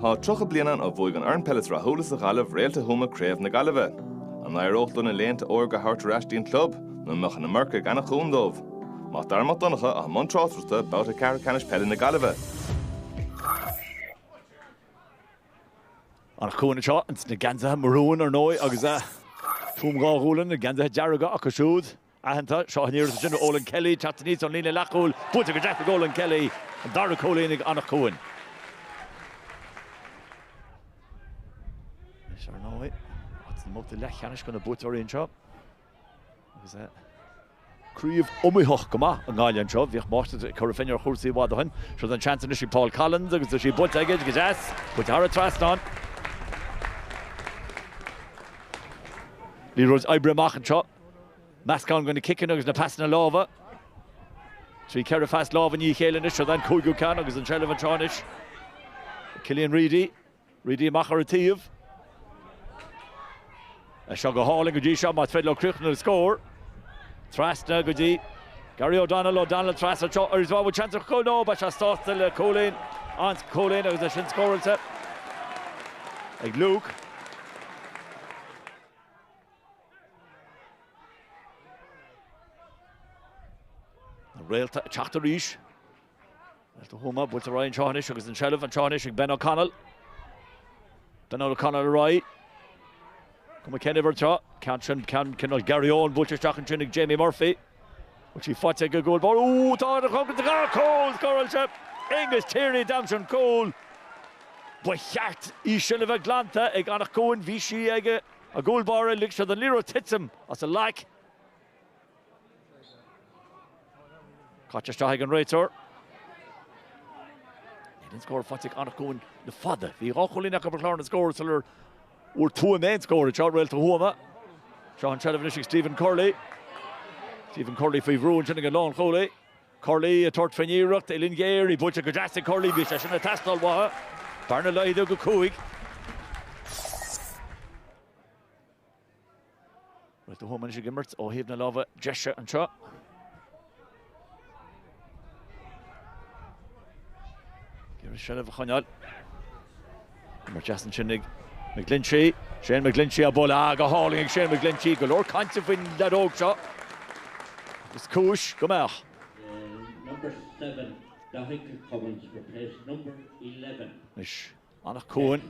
Tá 30 bliain ann ó bhuaigh an fhoireann peile is rathúla sa Ghaillimh, Réalta Thuama, Craobh na Gaillimhe. An n-éireodh leo na laethanta órga a thabhairt ar ais dtí'n club, nó an mbeadh an iomarca ag Anach Cuain dóibh? Mac Dara Mac Donncha atá i mbun tráchtaireachta, babhta ceathrú ceannais Peile na Gaillimhe. Anach Cuain anseo ins na geansaithe marúin, ar ndóigh, agus Tuaim Dhá Ghualann, na geansaithe dearga acu siúd. aitheanta. Seo an iarracht ansin ó Olan Kelly, teacht aníos ón líne leathchúil, buaite go deas ag Olan Kelly, an dara cúilín ag Anach Cuain. Anois ar ndóigh, áit sa mbabhta leathcheannais do na buaiteoirí anseo. Agus craobh iomaíoch go maith i nGaillimh anseo. Bhíodh máistreacht ag Cora Finne ar chúrsaí i bhfad ó shin. Seo an seans anois ag Paul Collins agus is í buaite aige go deas, buaite thar an trasnán. Liathróid oibrithe amach anseo. Meascán de na ciceanna agus na pasanna láimhe. Trí, ceithre phas lámh i ndiaidh a chéile anois, seo an cúigiú ceann agus an seilbh anseo anois ag Cillian Reidy. Reidy amach ar an taobh. É seo go hálainn go dtí seo, más féidir leo críochnú le scór. Trasna go dtí Gary O'Donnell, O'Donnell trasna anseo, arís, an bhfuil seans ar chúl? No, beidh sé sásta le cúilín, an cúilín agus é sin scóráilte ag Luke. Na réalta ag teacht arís. Réalta Thuama buailte ar aghaidh anseo anois agus an tseilbh anseo anois ag Ben O'Connell. Ben O'Connell ar aghaidh. Cuma cén uimhir atá air. Ceann sin, ceann cineál Garry Owen buailte isteach ansin ag Jamie Murphy. Bhfuil sí faighte ag an gcúl báire. Ó tá ar an choncrét tá cúl scóráilte. Aonghus Tierney, a d'aimsigh an cúl. Ba cheart í sin a bheith glanta ag Anach Cuain, bhí sí ag an gcúl báire, lig sé don liathróid titim as a ghlac. Caite isteach ag an réiteoir. Níl aon scór faighte ag Anach Cuain le fada. Bhí dhá chúilín acu ar chlár na scór sular fhuair Tuaim aon scór anseo, Réalta Thuama. Seo an seilbh anois ag Stephen Curley. Stephen Curley faoi bhrú ansin ag an lánchúlaí. Curley ag tabhairt faoin iarracht, uillinn ghéar í buailte go deas ag Curley, bhí sé sin ag teastáil uathu, bearna laghdaithe go cúig. Réalta Thuama anois ag imirt ó thaobh na láimhe deise anseo. Iarracht seilbh a choinneáil. Imirt dheas ansin ag McGlinchey. Shane McGlinchey á bualadh. Ah, go hálainn ag Shane McGlinchey. Go leor cainte faoin leaid óg seo. Is cúis go mbeadh. Anois, Anach Cuain.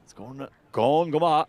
Scóranna gann go maith.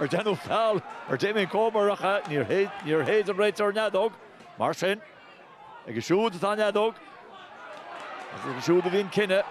Ar déanadh feall ar Damien Comer? Níor shéid an réiteoir an fheadóg. Mar sin, aige siúd atá an fheadóg agus aige siúd a bhí an cinneadh.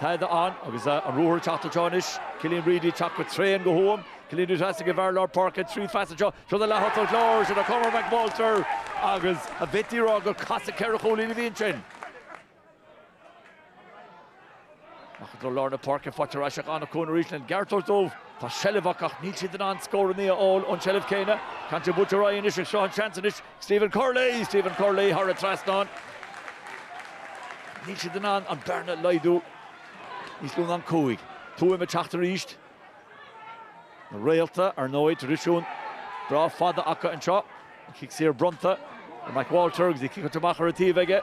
Tada ann agus an ruathar ag teacht anseo anois. Cillian Reidy ag teacht go tréan do Thuaim. Cillian Reidy trasna ag an bhfear lár páirce trí phas anseo. Seo don leath-thosach láir. Siúd é Cormac McWalter agus a mhaití a rá gur casadh ceithre chúilín a bhí ansin. Ach i dtreo lár na páirce, faightear ar ais ag Anach Cuain arís lena gceart a thabhairt dóibh. Tá seilbh acu ach níl siad in ann scóranna a fháil ón tseilbh céanna. Caint an buailtear ar aghaidh anois ach seo an seans anois ag Stephen Curley! Stephen Curley thar an trasnán. Níl siad in ann an bearna a laghdú níos lú ná cúig. Tuaim ag teacht arís. Na Réalta, ar ndóigh, tradisiún breá fada acu anseo. An cic saor bronnta ar McWalter agus an cic iontu amach ar an taobh aige.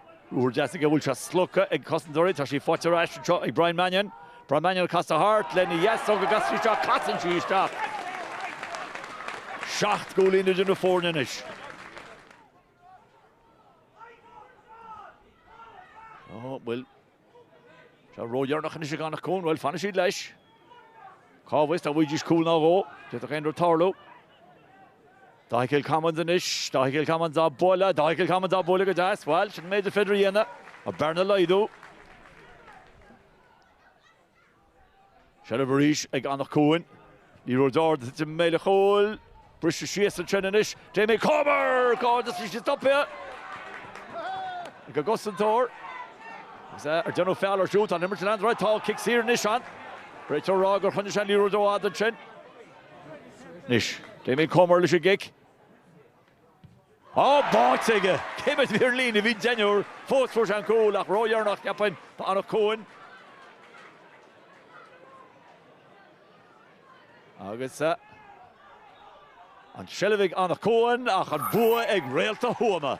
Úr deasaigh a bhfuil sé slogtha ag cosantóirí. Tá sí faighte ar ais anseo ag Brian Mannion. Brian Mannion ag casadh thart lena dheasóg agus sí isteach. Casann sí isteach! Seacht gcúilín idir na foirne anois. Bhuel, Tá sé ródheireanach anois ag Anach Cuain, bhuel, fanfaidh siad leis. Cá bhfios, dá bhfuighidís cúl ná dhó, d'fhéadfadh aon rud tarlú. Daithí Kilcommins anois, Daithí Kilcommins á bualadh, Daithí Kilcommins á bualadh go deas, bhuel, sin an méid is féidir a dhéanamh, an bearna a laghdú. Seilbh arís ag Anach Cuain. Ní raibh deor de thit Méileach Chóil. Bristear síos ansin anois. Damien Comer! Cairdeas leis an stopadh ag an gcosantóir. Is é ar déanadh feall air siúd. Tá an imirt ag leanacht ar aghaidh. Tá cic saor anois ann. Réiteoir ag rá gur choinnigh sé an liathróid rófhada ansin. Anois Damien Comer leis an gcic. Á, báite aige! Cé mhéad ar an líne? Bhí deichniúr. Fós fuair sé an cúl, ach ródheireanach, cheapfainn, d'Anach Cuain. Agus an tseilbh ag Anach Cuain, ach an bua ag Réalta Thuama.